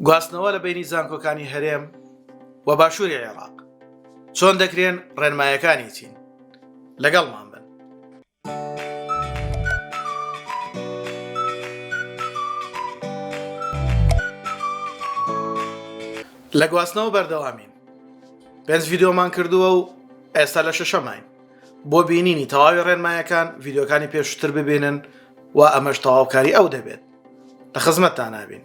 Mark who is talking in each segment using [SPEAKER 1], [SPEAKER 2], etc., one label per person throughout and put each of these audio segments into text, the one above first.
[SPEAKER 1] گواستنەوە لە بینی زانکۆکانی هەرێم و باشووری عێراق چۆن دەکرێن ڕێنمایەکانی چین لەگەڵمان بن لە گواستنەوە بەردەوامین پێنج ڤیددیۆمان کردووە و ئێستا لە شەشەماین بۆ بینینی تەواوی ڕێنمایەکان ڤیددیوکانی پێشتر ببینن و ئەمەش تەواوکاری ئەو دەبێت لە خزمەتتانا بین.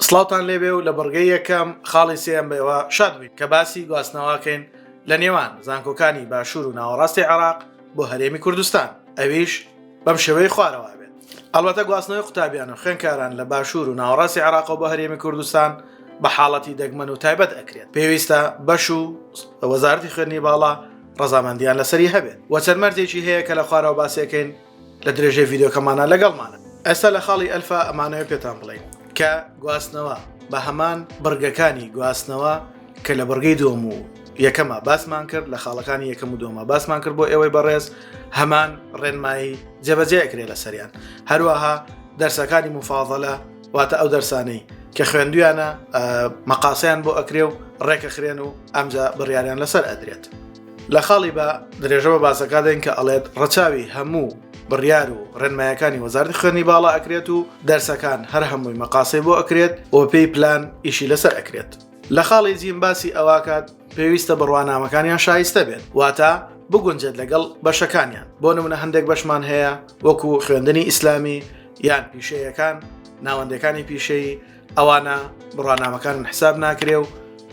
[SPEAKER 1] سڵاوتان لێبێ و لە بڕگەی یەکەم خاڵی سێم بەوە شاد بووین کە باسی گواستنەوەکەین لە نێوان زانکۆکانی باشوور و ناوەڕاستی عراق بۆ هەرێمی کوردستان ئەویش بەم شێوەی خوارەوە بێت ئەڵبەتە گواستنەوەی قوتابیان و خوێنکاران لە باشوور و ناوەڕاستی عراق و بە هەرێمی کوردستان بە حاڵەتی دەگمەن و تایبەت ئەکرێت پێویستە بەش و وەزارتی خوێنی باڵا ڕزامەندیان لەسەری هەبێت وەچەند مەرجێکی هەیە کە لە خوارەوە باسیەکەین لە درێژەی ڤیددیوکەمانە لەگەڵمانە ئێستا لە خاڵی ئەلفا ئەمانەوە پێتان بڵین کە گواستنەوە بە هەمان بڕگەکانی گواستنەوە کە لە بڕگەی دوم و یەکەمە باسمان کرد لە خاڵەکانی یەکەم و دومە باسمان کرد بۆ ئێوەی بەڕێز هەمان ڕێنمایی جێبەجێ کرێ لە سەریان هەروەها دەرسەکانی مفاضلە واتە ئەو دەرسانەی کە خوێندویانە مەقاسیان بۆ ئەکرێ و ڕێکەخرێن و ئەمجا بڕیاریان لەسەر ئەدرێت لە خاڵی بە درێژە بە باسەکە دێن کە ئەڵێت ڕەچاوی هەموو بڕیار و ڕێنمایەکانی وەزارتی خوێنی باڵا ئەکرێت و دەرسەکان هەر هەمووی مەقاسی بۆ ئەکرێت و پێی پلان ئیشی لەسەر ئەکرێت لە خاڵی جیم باسی ئەواکات پێویستە بڕوانامەکانیان شایستە بێت واتە بگونجێت لەگەڵ بەشەکانیان بۆ نمونە هەندێک بەشمان هەیە وەکو خوێندنی ئیسلامی یان پیشەیەکان ناوەندەکانی پیشەی ئەوانە بڕوانامەکانن حساب ناکرێ و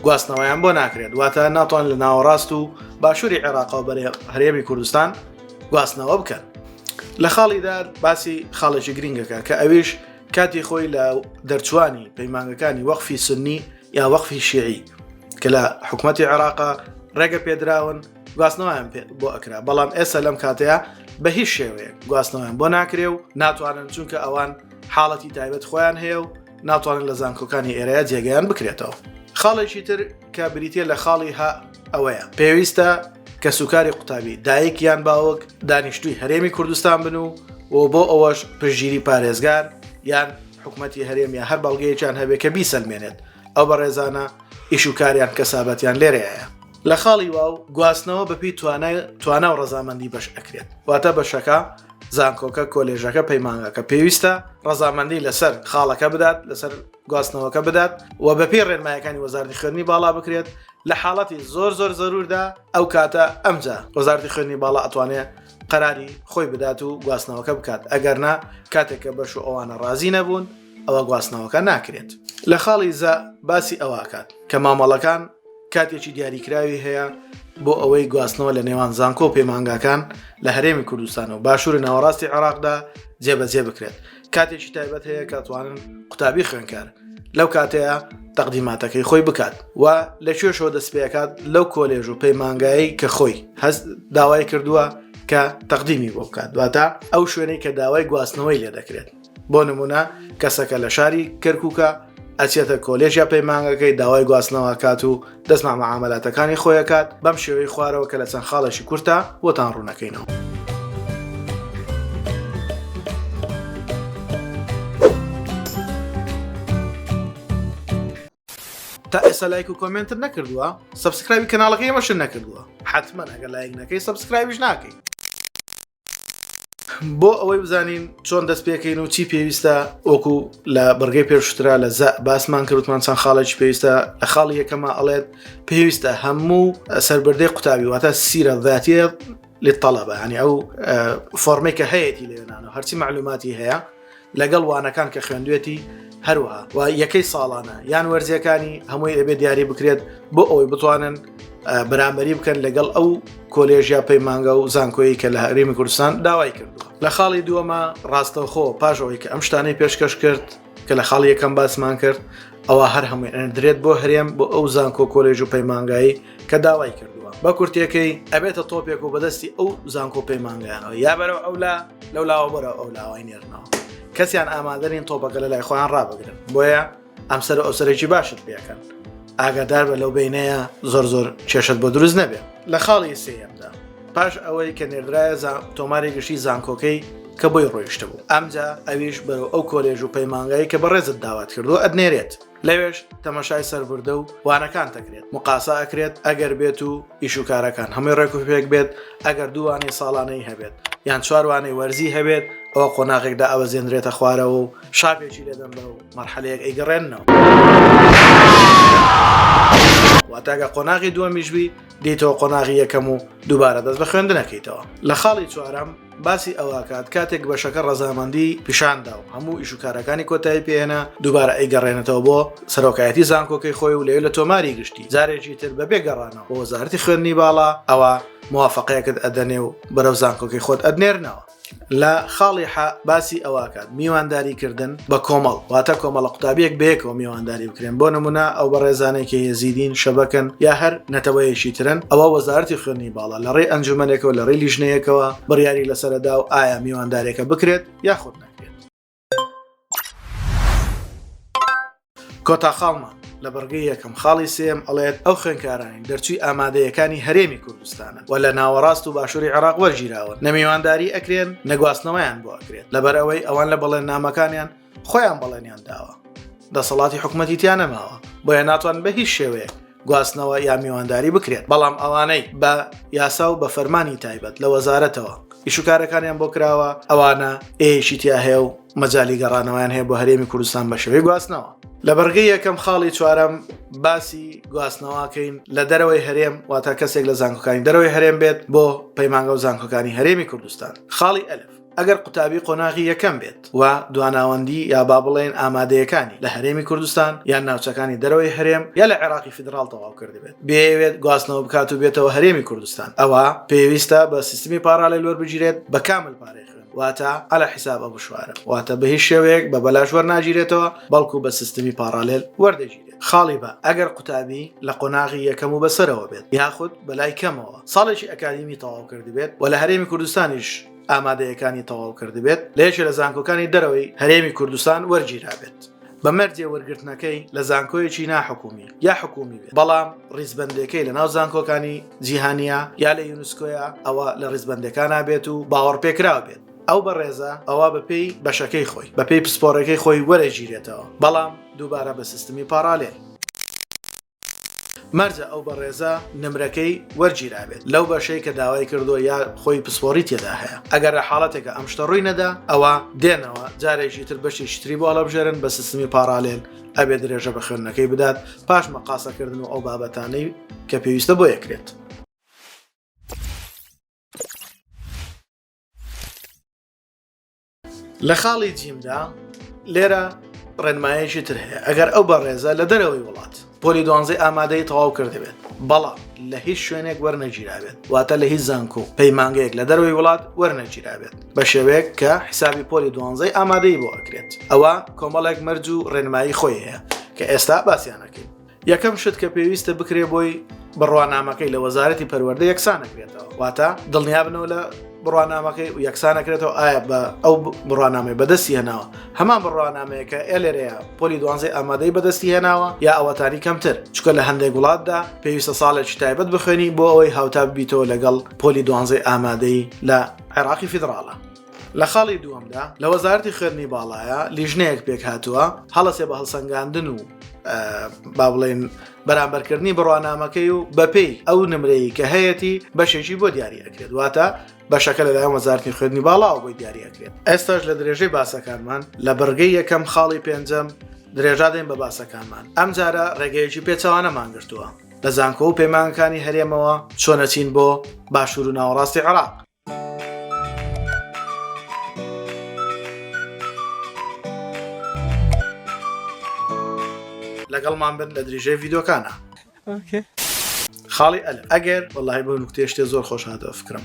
[SPEAKER 1] گواستنەوەیان بۆ ناکرێت واتە ناتوان لە ناوەڕاست و باشووری عێراقەوە بەرێ هەرێمی کوردستان گواستنەوە بکەن لە خاڵیدا باسی خاڵێکی گرنگەکە کە ئەویش کاتی خۆی لە دەرچوانی پەیمانگەکانی وەخفی سنی یا وەخفی شیعی کە لە حکوومەتتی عێراقا ڕێگە پێدراون گواستنەوەیان بۆ ئەکرا بەڵام ئێستا لەم کاتەیە بە هیچ شێوەیە گواستنەوەیان بۆ ناکرێ و ناتوانن چونکە ئەوان حاڵەتی تایبەت خۆیان هەیە و ناتوانن لە زانکۆکانی ئێرەیە جێگەیان بکرێتەوە خاڵێکی تر کە بریتە لە خاڵی ها ئەوەیە پێویستە کە سوکاری قوتابی دایک یان باوک دانیشتوی هەرێمی کوردستان بن و و بۆ ئەوەش پژگیری پارێزگار یان حکوومەتتی هەرێم یا هەر بەڵگەیەکیان هەبێ کە بیسەلمێنێت ئەو بە ڕێزانە ئیش و کاریان کەسابەتیان لێرەیە لە خاڵی واو گواستنەوە بەپی توانای توانا و ڕزامەندی بەش ئەکرێت واتە بەشەکە زانکۆکە کۆلێژەکە پەیمانگەکە پێویستە ڕزامەندی لەسەر خاڵەکە بدات لەسەر گواستنەوەکە بدات و بەپی ڕێنمایەکانی وەزارتی خوێنی باڵا بکرێت لە حاڵەتی زۆر زۆر زەروردا ئەو کاتە ئەمجا وەزارتی خوێنی باڵا ئەتوانێت قەراری خۆی بدات و گواستنەوەکە بکات ئەگەرنا کاتێکە بەش و ئەوانە ڕازی نەبوون ئەوە گواستنەوەکە ناکرێت لە خاڵی زە باسی ئەوکات کە مامەڵەکان کاتێکی دیاریکراوی هەیە بۆ ئەوەی گواستنەوە لە نێوان زانکۆ و پەیمانگاکان لە هەرێمی کوردستان و باشووری ناوەڕاستی عێراقدا جێبەجێ بکرێت کاتێکی تایبەت هەیە کاتوانن قوتابی خوێنکار لەو کاتەیە تەقدیماتەکەی خۆی بکات و لە کوێشەوە دەستپێکات لەو کۆلێژ و پەیمانگایی کە خۆی هەست داوای کردووە کە تەقدیمی بۆ بکات دواتە ئەو شوێنەی کە داوای گواستنەوەی لێ دەکرێت بۆ نمونە کەسەکە لە شاری کەرکووکە ئەچێتە کۆلێژ یا پەیمانگەکەی داوای گواستنەوە ئەکات و دەستمان بە مامەلاتەکانی خۆی ئەکات بەم شێوەی خوارەوە کە لە چەند خاڵێکی کورتە بۆتان ڕوونەکەینەوە. تا ئێستا لایک و کۆمنتت نەکردووە سبسکرایبی کەناڵەکەی مەشن نەکردووە حتمما ئەگەر لایک نەکەی سبسکرایبیش ناکەی بۆ ئەوەی بزانین چۆن دەست پێکەین و چی پێویستە وەکو لە بڕگەی پێشترا لە زە باسمان کردمان چەند خاڵێکی پێویستە لە خاڵی یەکەمە ئەڵێت پێویستە هەموو سربردەی قوتابی واتە سیرە ذاتە لە تەڵەبە هەنی ئەو فۆرمێکە هەیەی لێنانە هەرچی معلوماتی هەیە لەگەڵ وانەکان کە خوێندوێتی هەروەها و یەکەی ساڵانە یان وەرزیەکانی هەمووی ئەبێ دیاری بکرێت بۆ ئەوەی بتوانن بەرامبەری بکەن لەگەڵ ئەو کۆلێژیا پەیمانگە و زانکۆیی کە لە هەرێمی کوردستان داوای کردووە لە خاڵی دووەمە ڕاستەوخۆ پاش ئەوەی کە ئەم شتانەی پێشکەش کرد کە لە خاڵ یەکەم باسمان کرد ئەوە هەر هەمووی ئەندرێت بۆ هەرێم بۆ ئەو زانکۆ کۆلێژ و پەیمانگایی کە داوای کردووە بە کورتەکەی ئەبێتە تۆپێک و بەدەستی ئەو زانکۆ پەیمانگەیانەوە یا بەرەو ئەو لا لەو لاوە بەرە ئەو لاوای نێرنەوە کەسیان ئامادەرین تۆپەکە لە لای خۆیان ڕابگرن بۆیە ئەم سەر ئەوسەرێکی باشت پێکەن ئاگادار بە لەو بینەیە زۆر زۆر کێشت بۆ دروست نەبێت لە خاڵی سێمدا پاش ئەوەی کە نێردرایە تۆماری گشتی زانکۆکەی کە بۆی ڕۆیشتە بوو ئەمجا ئەویش بەرەو ئەو کۆلێژ و پەیمانگایی کە بەڕێزت داوات کردو ئەدنێرێت لەوێش تەمەشای سەربردە و وانەکان دەکرێت مقاسا ئەکرێت ئەگەر بێت و ئیشوکارەکان هەمووی ڕێک و پێک بێت ئەگەر دووانەی ساڵانەی هەبێت یان چواروانەی وەرزی هەبێت ئەوە قۆناغێکدا ئەوە زێنرێتە خوارەوە و شاپێکی لەدەم بە و مەرحەلەیەک ئەیگەڕێنەوە. واتاگە قۆناغی دووەمیشبی دیتەوە قۆناغی یەکەم و دووبارە دەست بە خوێندنەکەیتەوە لە خاڵی چوارم باسی ئەوەکات کاتێک بەشەکە ڕەزامەندی پیشاندا و هەموو ئیش و کارەکانی کۆتایی پێێنە دووبارە ئەیگەڕێنێتەوە بۆ سەرۆکایەتی زانکۆکەی خۆی و لەوێ لە تۆماری گشتی جارێکی تر بە بێگەڕانەوە بۆ وەزارتی خوێندنی باڵا ئەوە موواافقەیەکت ئەدەنێ و بەرەو زانکۆکەی خۆت ئەدنێرنەوە لە خاڵی ح باسی ئەوەکات میوانداری کردن بە کۆمەڵ واتە کۆمەڵە قوتابیەک بەیەکەوە میوانداری بکرێن بۆ نمونە ئەو بە ڕێزانێکی هێزیدین شەبەکەن یا هەر نەتەوەیەکی ترن ئەوە وەزارتی خوێنی باڵا لە ڕێ ئەنجومەنێکەوە لە ڕێ لیژنەیەکەوە بڕیاری لەسەردا و ئایا میواندارێکە بکرێت یاخود نە کۆتا خاڵمان لە بڕگەی یەکەم خاڵی سێم ئەڵێت ئەو خوێنکارانی دەرچووی ئامادەیەکانی هەرێمی کوردستانە و لە ناوەڕاست و باشووری عێراق وەرگیراون نەمیوانداری ئەکرێن نەگواستنەوەیان بۆ ئەکرێت لەبەر ئەوەی ئەوان لە بەڵێن نامەکانیان خۆیان بەڵێنیان داوە دەسەڵاتی حکوومەتیتیان نەماوە بۆیە ناتوان بە هیچ شێوەیە گواستنەوە یا میوانداری بکرێت بەڵام ئەوانەی بە یاسا و بە فەرمانی تایبەت لە وەزارەتەوە ئیشوکارەکانیان بۆ کراوە ئەوانە ئێشی تیا هەیە و مەجای گەڕانەوەیان هەیە بۆ هەرێمی کوردستان بە شێوەی گواستنەوە لە بەرگی یەکەم خاڵی چوارەم باسی گواستنەوەکەین لە دەرەوەی هەرێم واتە کەسێک لە زانکۆکانی دەرەوەی هەرێم بێت بۆ پەیمانگە و زانکۆکانی هەرێمی کوردستان خاڵی ئەلف ئەگەر قوتابی قۆناغی یەکەم بێت و دواناوەندی یا با بڵێن ئامادەیەکانی لە هەرێمی کوردستان یان ناوچەکانی دەرەوەی هەرێم یا لە عێراقی فیدراڵ تەواو کردبێت بێوێت گواستنەوە بکات و بێتەوە هەرێمی کوردستان ئەوە پێویستە بە سیستمی پاراڵێل وەربگیرێت بە کامل پارەی خوێن واتە ئەلە حیساب ئە بشوارە واتە بە هیچ شێوەیەک بە بەلاش وەرناگیرێتەوە بەڵکو بە سیستمی پاراالێل وەردەگیرێت خاڵی بە ئەگەر قوتابی لە قۆناغی یەکەم و بەسەرەوە بێت یاخود بەلای کەمەوە ساڵێکی ئەکادیمی تەواو کردبێت و لە هەرێمی کوردستانیش ئامادەیەکانی تەواو کردبێت لە یەکێ لە زانکۆکانی دەرەوەی هەرێمی کوردستان وەرگیرابێت. بە مەرجێ وەرگرتنەکەی لە زانکۆیەکی ناحکومی یا حکومی بێت بەڵام ڕیزبندەکەی لە ناو زانکۆکانی جیهانیە یا لە یونسکۆیە ئەوە لە ڕیزبندەکان نابێت و باوەڕ پێکراو بێت ئەو بەڕێزە ئەوە بەپێی بەشەکەی خۆی بەپێی پسپۆرەکەی خۆی وەرەگیرێتەوە بەڵام دووبارە بە سیستمی پاراالێ مەرجە ئەو بەڕێزە نمرەکەی وەرگیرابێت لەو بەشەی کە داوای کردووە یا خۆی پسپۆڕی تێدا هەیە ئەگەر لە حاڵەتێکە ئەم شتە ڕووی نەدا ئەوە دێنەوە جارێکی تر بەشی شتری بۆ هەڵەبژێرن بە سیستمی پاراالێن ئەبێ درێژە بە خوێندنەکەی بدات پاش مەقاسەکردن و ئەو بابەتانەی کە پێویستە بۆ یەکرێت. لە خاڵی جیمدا لێرە ڕێنمایەکی تر هەیە ئەگەر ئەو بەڕێزە لە دەرەوەی وڵات پۆلی دوانزەی ئامادەی تەواو کردبێت بەڵام لە هیچ شوێنێک وەرنەگیرابێت واتە لە هیچ زانکۆ و پەیمانگەیەک لە دەروی وڵات وەرنەگیرابێت بە شێوەیەک کە حیسابی پۆلی دوانزەی ئامادەی بۆ ئەکرێت ئەوە کۆمەڵێک مەرج و ڕێنمایی خۆی هەیە کە ئێستا باسییانەکەین یەکەم شت کە پێویستە بکرێ بۆی بڕوانامەکەی لە وەزارەتی پەروەەردە یەکسانەکرێتەوە واتە دڵنیابنەوە لە بڕوانامەکەی و یەکسانەکرێتەوە ئایا بە ئەو بڕوانامەی بەدەستی هێناوە هەمان بڕوانامەیە کە ئێلێرەیە پۆلی دوانزەی ئامادەی بەدەستی هێناوە یا ئەوەتانی کەمتر چکە لە هەندێک وڵاتدا پێویستە ساڵێکی تایبەت بخوێنی بۆ ئەوەی هاوتا ببیتەوە لەگەڵ پۆلی دوانزەی ئامادەی لە عێراقی فیدراڵە لە خاڵی دووەمدا لە وەزارەتی خوێندنی باڵایە لیژنەیەک پێکهاتووە هەڵەسێ بە هەڵسەنگاندن و با بڵێن بەرامبەرکردنی بڕوانامەکەی و بەپێی ئەو نمرەیە کە هەیەی بەشێکی بۆ دیاری ئەکرێت واتە بەشەکە لەلایەن وەزارتی خوێندنی باڵاوە بۆی دیارەکرێت ئێستاش لە درێژەی باسەکانمان لە بڕگەی یەکەم خاڵی پێنجەم درێژادەین بە باسەکانمان ئەم جارە ڕێگەیەکی پێچەوانە مانگرتووە لە زانکۆ و پەیمانەکانی هەرێمەوە چۆنەچین بۆ باشوور و ناوەڕاستی عراق لەگەڵمان بن لە دریژەی ڤیدۆکانە خاڵی ئەل ئەگەر وەڵی بۆ نکتێشتێ زۆر خۆش هاتەوە فکرم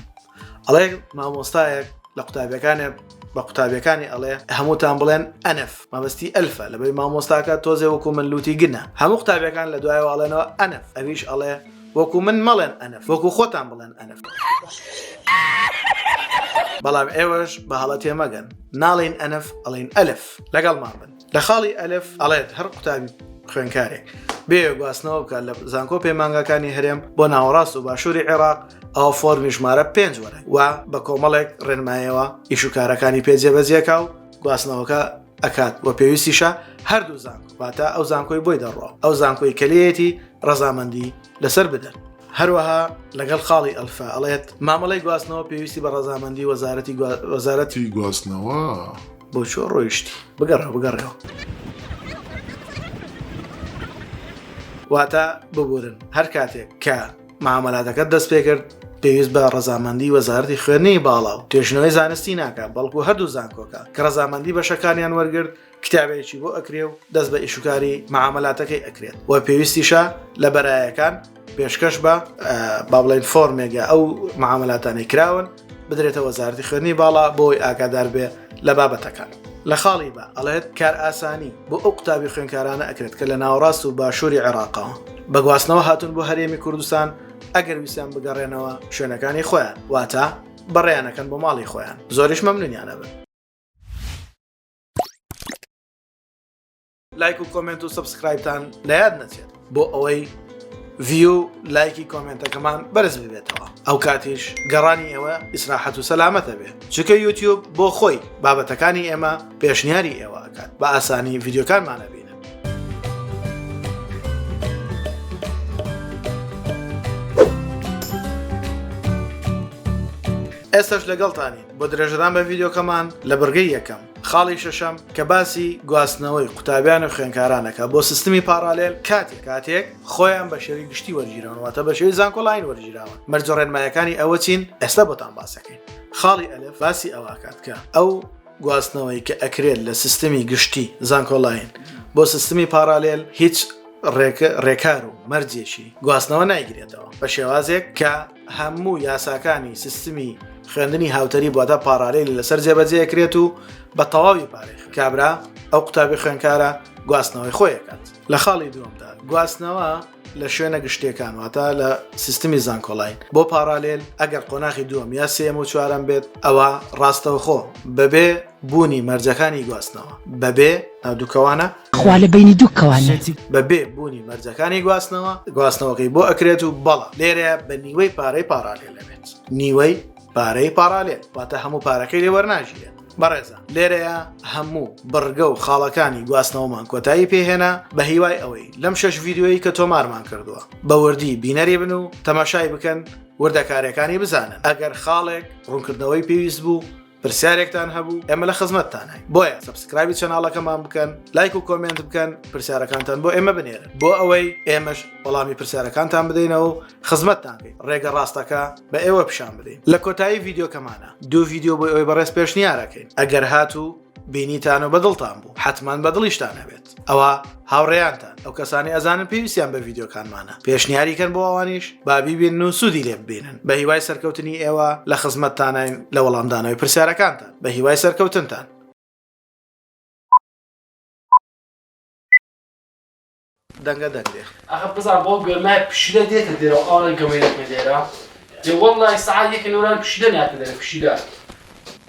[SPEAKER 1] ئەڵێ مامۆستایەک لە قوتابەکانێ بە قوتابیەکانی ئەڵێ هەمووتان بڵێن ئەنف مەبستی ئەلفە لەبەی مامۆستاکە تۆزێ وەکو من لوتی گنە هەموو قوتابیەکان لە دوایەوەڵێنەوە ئەنف ئەویش ئەڵێ وەکو من مەڵێن ئەنف وەکو خۆتان بڵێن ئەنف. بەڵام ئێوەش بە هەڵە تێمەگەن ناڵین ئەنف ئەڵین ئەلف لەگەڵمان بن لە خاڵی ئەلف ئەڵێت هەر قوتابی خوێنکارێک بێ گواستنەوە بکات لە زانکۆ پەیمانگاکانی هەرێم بۆ ناوەڕاست و باشووری عێراق ئەو فۆرمی ژمارە پێنج وەرە و بە کۆمەڵێک ڕێنمایەوە ئیشوکارەکانی پێجێبەجێکا و گواستنەوەکە ئەکات وە پێویستیشە هەردوو زانکۆ واتە ئەو زانکۆی بۆی دەڕۆ ئەو زانکۆی کەلەیەتی ڕەزامەندی لەسەر بدەن هەروەها لەگەڵ خاڵی ئەلفا ئەڵێت مامەڵی گواستنەوە پێویستی بە ڕەزامەندی وەزارەتی وەزارەتی گواستنەوە
[SPEAKER 2] بۆ چۆ
[SPEAKER 1] ڕۆیشتی بگەڕە بگەڕەوە واتە ببورن هەر کاتێک کە مامەلاتەکە دەست پێکرد پێویست بە ڕزامەندی وەزارتی خوێنی باڵا و توێژنەوەی زانستی ناکە بەڵکو هەردوو زانکۆکە کە ڕزامەندی بەشەکانیان وەرگرت کتابێکی بۆ ئەکرێ و دەست بە ئیشوکاری معاملاتەکەی ئەکرێت و پێویستیشە لە بەرایەکان پێشکەش بە با بڵێن فۆرمێک یا ئەو معاملاتانی کراون بدرێتە وەزارەتی خوێنی باڵا بۆی ئاگادار بێ لە بابەتەکان لە خاڵی بە ئەڵێت کار ئاسانی بۆ ئەو قوتابی خوێنکارانە ئەکرێت کە لە ناوەڕاست و باشووری عێراقەوە بەگواستنەوە هاتون بۆ هەرێمی کوردستان ئەگەر ویسیان بگەڕێنەوە شوێنەکانی خۆیان واتە بەڕێیانەکەن بۆ ماڵی خۆیان زۆریش مەمنونیانە بن لایک و کۆمنت و سبسکرایبتان لە یاد نەچێت بۆ ئەوەی ڤیو لایکی کۆمنتەکەمان بەرز ببێتەوە ئەو کاتیش گەڕانی ئێوە ئیسراحەت و سەلامەتە بێت چکە یوتیوب بۆ خۆی بابەتەکانی ئێمە پێشنیاری ئێوە ئەکات بە ئاسانی ڤیددیوکانمانە بێت ئێستش لەگەڵتانی بۆ درێژران بە ڤیددیوکەمان لە بڕگەی یەکەم خاڵی شەشەم کە باسی گواستنەوەی قوتابیان و خوێنکارانەکە بۆ سیستمی پارالێل کاتێک کاتێک خۆیان بە شێوی گشتی وەرگیرانواتە بە شێوی زانکۆلاین وەرگیراوە مەرجە ڕێنمایەکانی ئەوە چین ئێستا بۆتان باسەکەین خاڵی ئەلف باسی ئەواکات کە ئەو گواستنەوەی کە ئەکرێت لە سیستمی گشتی زانکۆلاین بۆ سیستمی پارالێل هیچ ڕێکار و مەرجێکی گواستنەوە نایگرێتەوە بە شێوازێک کە هەموو یاساکانی سیستمی خوێندنی هاوتەریب واتە پارالیل لەسەر جێبەجێکرێت و بە تەواوی پارێخ کابرا ئەو قوتابی خوێنکارە گواستنەوەی خۆیەکات لە خاڵی دووەمدا گواستنەوە لە شوێنە گشتیەکان واتە لە سیستمی زانکۆلاین بۆ پارالیل ئەگەر قۆناخی دووەم یا سێم و چوارم بێت ئەوە ڕاستەوخۆ بەبێ بوونی مەرجەکانی گواستنەوە بەبێ ناودووکەوانە خوا لە بینی
[SPEAKER 3] دووکەوانە بەبێ بوونی
[SPEAKER 1] مەرجەکانی گواستنەوە گواستنەوەکەی بۆ ئەکرێت و بەڵە لێرە بە نیوەی پارەی پاراێ لەبێت نیوەی پارەی پاراێت واتە هەموو پارەکەی لێ وەرناژیرێت بەڕێزە لێرەیە هەموو بڕگە و خاڵەکانی گواستنەوەمان کۆتایی پێهێنا بە هیوای ئەوەی لەم شەش ڤیددیویی کە تۆمارمان کردووە بە وردی بینەری بن و تەماشای بکەن وردەکارەکانی بزانن ئەگەر خاڵێک ڕوونکردنەوەی پێویست بوو پرسیارێکتان هەبوو ئێمە لە خزمەتتانین بۆیە سبسکرایبی چەناڵەکەمان بکەن لایک و کۆمنت بکەن پرسیارەکانتان بۆ ئێمە بنێرن بۆ ئەوەی ئێمەش وەڵامی پرسیارەکانتان بدەینەوە و خزمەتتان بین ڕێگە ڕاستەکە بە ئێوە پیشان بدەین لە کۆتایی ڤیددیوکەمانە دوو ڤیددیو بۆ ئەوەی بەڕێز پێشنیارەکەین ئەگەر هاتوو بینیتان و بەدڵتان بوو حتمما بەدڵیشتان هەبێت ئەوە هاوڕێیانتان ئەو کەسانی ئەزانن پێویستیان بە ڤیددیوکانمانە پێشنیاری کەن بۆ ئەوانیش بابی بێن و سوودی لێ ببینن بە هیوای سەرکەوتنی ئێوە لە خزمەتتانین لە وەڵامدانەوەی پرسیارەکانتان بە هیوای سەرکەوتنتان دەنگە دەنگێ ئەخە بزان بۆ
[SPEAKER 4] گەرمە پشیلە دێتە دێرە ئاڵە گەمەیەکە دێرە جێ وەڵی سعال یەکە نۆران پشیلە ناتە دەرە پشیلە